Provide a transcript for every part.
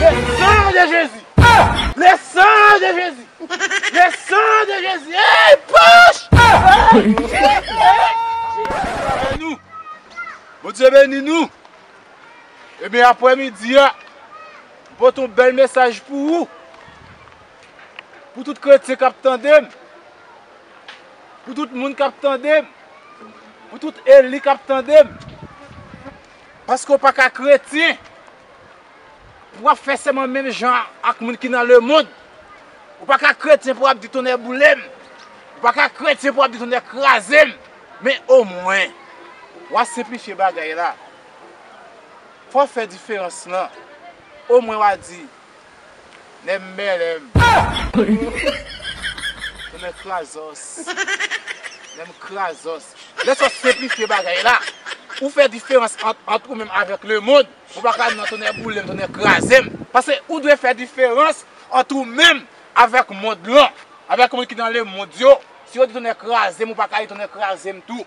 Le sang de Jezi Le sang de Jezi Le sang de Jezi Eyy poch Eyy Jezi Bondye beni nou Ebyen aprè midi a Mwen pote yon bèl mesaj pou ou Pou tout kretyen kap tande m Pou tout moun kap tande m Pou tout eli kap tande m Paske ou paka kretyen Pou wap fè sèman menm jan ak moun ki nan lemond. Ou pa ka kretyen pou wap di tonnè boule m. Ou pa ka kretyen pou wap di tonnè kraze m. Men omwen, wa senplifye bagay la. Fò w fè diferans lan. Omwen wa di, Nèm mèlèm Nèm mèm krazòs Nèm krazòs Lè sòs senplifye bagay la Ou fè diferans ant ou menm avèk lemond Ou pa ka nan tonnè boulem tonnè krazem Pase ou dwe fè diferans ant ou menm avèk mond lan Avèk moun ki nan lemond yo Si yo di tonnè krazem ou pa ka di tonnè krazem tou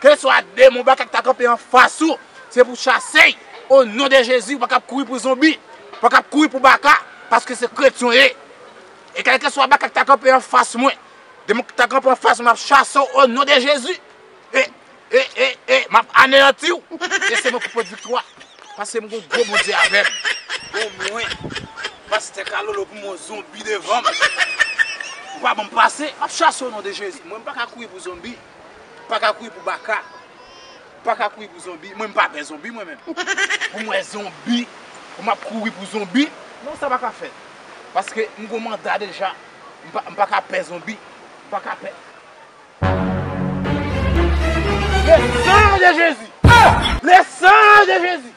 Keswa demon bakak ta kanpe anfas ou, se pou chase y o non de Jezi, ou pa kab kouri pou zonbi, ou pa kab kouri pou baka, paske se kretyen w ye. E kèlkeswa bakak ta kanpe anfas mwen, demon ki ta kanpe anfas mwen map chase w o non de Jezi, e, e, e, e, map aneyanti w, e se mwen ki pot viktwa, paske m gon gwo Bondye avè m. Bon mwen, pastè Kalolo pou mwen w zonbi devan m, ou pa ban m pase, map chase w o non de Jezi, mwen m paka kouri pou zonbi. paka kouri pou baka paka kouri pou zonbi mwen mpa pè zonbi mwen menm pou mwen zonbi pou map kouri pou zonbi non sa paka fèt paske mgon manda deja mpaka pè zonbi mpaka pè le san de jezi le san de jezi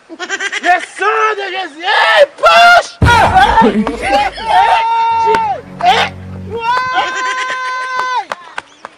le san de jezi eeyy pach eeyy eeyy eeyy eeyy